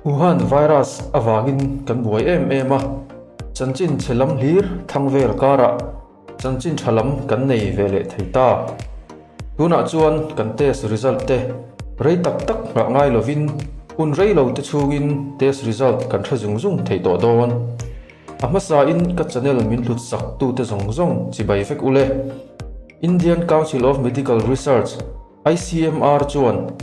Wuhan virus avangin kan buai em em a, chanchin chhe lam hlir thlang vel karah chanchin tha lam kan nei ve leh thei ta. Tunah chuan kan test result te rei tak tak nghah ngai lovin hun rei lo te chungin test result kan hre zung zung thei tawh dawn. A hmasa in ka channel min hlut sak tu te zawng zawng chibai vek u le. Indian Council of Medical Research, ICMR, chuan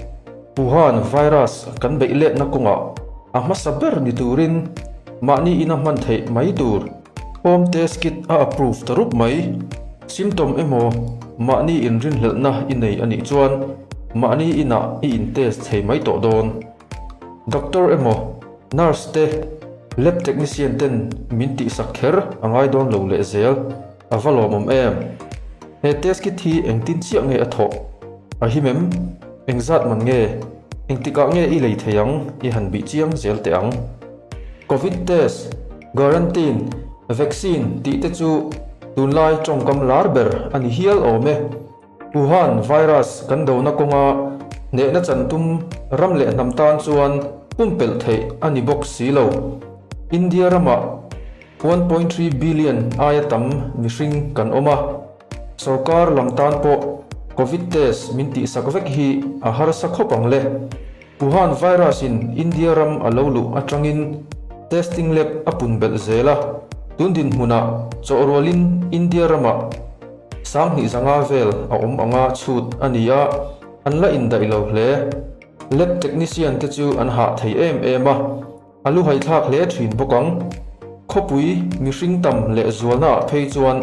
Wuhan virus kan beih let na kawng ah a hmasa ber ni tur in mahni in a hman theih mai tur home test kit a approve ta rup mai. Symptom emaw mahni in rinhlelh na i nei a nih chuan mahni in ah i in test thei mai tawh dawn. Doctor emaw Nurse te, Lab Technician ten min tih sak kher a ngai dawn lo leh zel. A va lawmawm em? He Test Kit hi engtin chiah nge a thawh? A him em? Engzat man nge? Engtikah nge i lei thei ang? I han bih chiang zel teh ang. Covid Test, Quarantine, Vaccine tih te chu tunlai tawngkam lar ber a ni hial awm e. Wuhan virus kan dona kawnga nehna chan tum ram leh hnam tan chuan pumpelh theih a ni bawk si lo. India ramah one point three billion aia tam mihring kan awm a, sorkar lam tan pawh Covid test min tihsak vek hi a harsa khawp ang le. Wuhan virus in India ram a lo luh atangin testing lab a pun belh zel a, tun dinhmunah chawhrualin India ramah sanghnih zanga vel a awm anga chhut a ni a, an la indaih lo hle. Lab technician te chu an hah thei em em a. A lu haithlak hle thin bawk ang. Khawpui mihring tam leh zualnaah phei chuan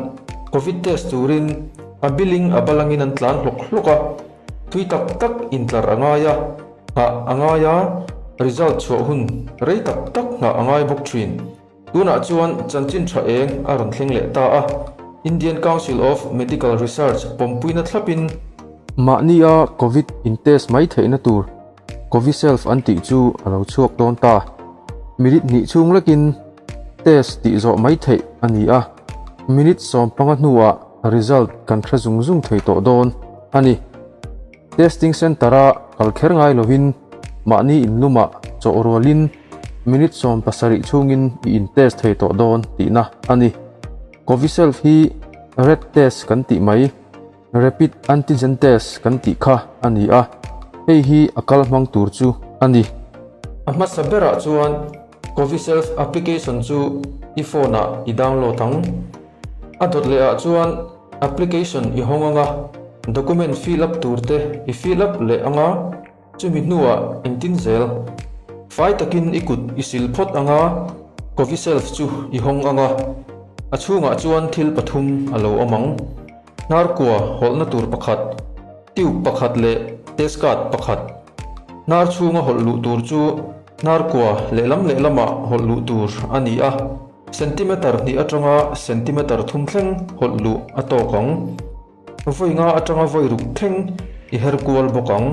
Covid test turin a biling a balangin an tlan hlawk hlawk a, tui tak tak intlar a ngai a, nghah a ngai a, result chhuah hun rei tak tak nghah a ngai bawk thin. Tunah chuan chanchin tha eng a rawn thleng leh ta a, Indian Council of Medical Research pawmpuina thlapin, Mahnia Covid intest mai theihna tur Coviself an tih chu a lo chhuak dawn ta. Minute hnih chhung lekin test tih zawh mai theih a ni a, minute sawm panga hnuah result kan hre zung zung thei tawh dawn a ni. Testing centre-a kal kher ngai lovin mahni in luma chawh rualin minute sawm pasarih chungin i in test thei tawh dawn tihna a ni. Coviself hi red test kan tih mai. Rapid Antigen Test kan tih kha a ni a, hei hi a kal hmang tur chu a ni. A hmasa berah chuan Coviself application chu i phone ah i download ang. A dawt leh ah chuan application i hawng anga, document fill up tur te i fill up leh anga. Chumi hnuah engtin zel? Fai takin i kut i sil phawt anga Coviself chu i hawng anga a chhungah chuan thil pathum a lo awm ang, Hnarkua hawlhna tur pakhat, tube pakhat leh test card pakhat. Hnar chhunga hawlh luh tur chu hnarkua lehlam lehlamah hawlh luh tur a ni a, centimeter hnih atanga centimeter thum thleng hawlh luh a tawk ang. Ka vawi nga atanga vawi ruk thleng i her kual bawk ang.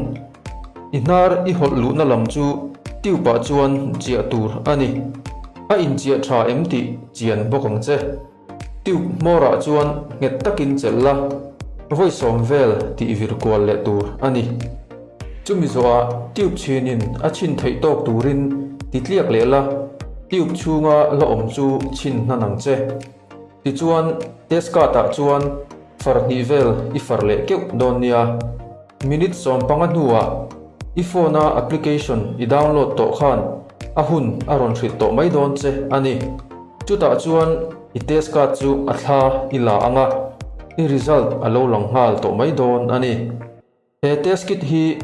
I hnar i hawlh luhna lam chu Tube-ah chuan chiah tur a ni. A inchiah tha em tih chian bawk ang che. Tube hmawrah chuan nghet takin chelh la, vawi sawm vel tih vir kual leh tur a ni. Chumi zawhah Tube chhinin a chhin theih tawk turin ti tliak leh la, Tube chhunga la awm chu chhin hnan ang che. Tichuan, test card ah chuan far hnih vel i far leh keuh dawn nia. Minute sawm panga hnuah i phone a application i download tawh khan a hun a rawn hrilh tawh mai dawn che a ni. Chutah chuan i test card chu a thla i la ang a, i result a lo lang nghal tawh mai dawn a ni. He test kit hi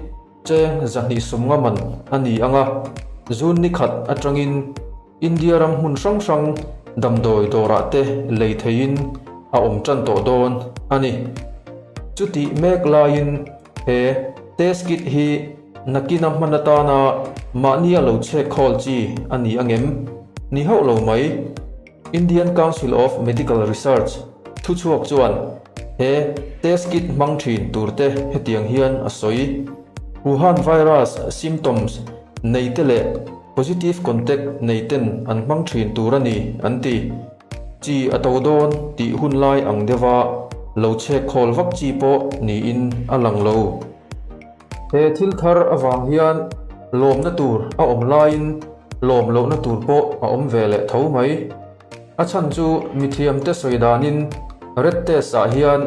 cheng zahnih sumnga man a ni ang a, June ni khat atangin India ram hmun hrang hrang damdawi dawrah te lei theihin a awm tan tawh dawn a ni. Chutih mek laiin he test kit hi nakina hman atana mahni a lo chhek khawl chi a ni a ngem? Ni hauh lo mai. Indian Council of Medical Research thu chhuak chuan he test kit hmang thin tur te hetiang hian a sawi, Wuhan virus symptoms nei te leh positive contact nei ten an hmang thin tur a ni an ti. Chi a to dawn tih hun lai ang deuh a, lo chhek khawl vak chi pawh niin a lang lo. He thil thar avang hian lawmna tur a awm laiin lawm lohna tur pawh a awm ve leh tho mai. A chhan chu mithiamte sawi danin red test ah hian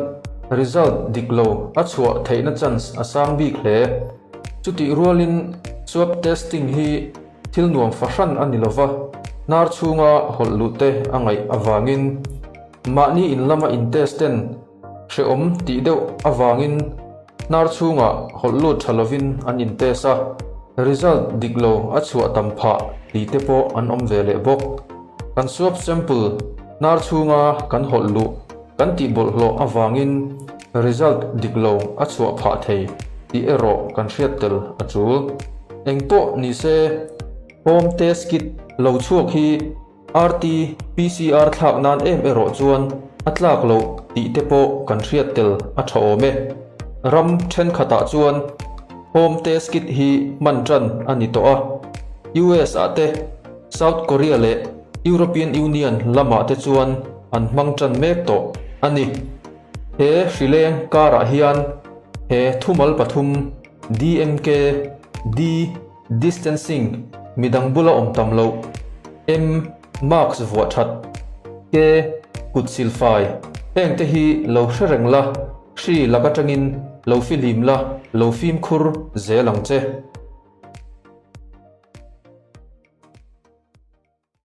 result dik lo a chhuah theihna chance a sang bik hle. Chutih rualin swab testing hi thil nuam fahran a ni lova hnar chhunga hawlh luhte a ngaih avangin mahni in lama in test ten Hrehawm tih deuh avangin hnar chhungah hawlh lut tha lovin an in test a, result dik lo a chhuah tam phah tih te pawh an awm ve leh bawk. Kan swab sample hnar chhunga kan hawlh luh kan tih bawlhhlawh avangin result dik lo a chhuah phah thei tih erawh kan hriat tel a chul. Engpawh ni se, home test kit lo chhuak hi RT PCR thlak nan em erawh chuan a tlak loh tih te pawh kan hriat tel a tha awm e. Ram thenkhatah chuan Home Test Kit hi hman tan a ni tawh a. US ah te, South Korea leh European Union lamah te chuan an hmang tan mek tawh a ni. He hrileng karah hian he thumal pathum DMK, D, Distancing, midang bula awm tam lo. M, Mask vuah that. K, Kut sil fai. Heng te hi lo hre reng la, hri lak atangin lo fi hlim la, lo fimkhur zel ang che.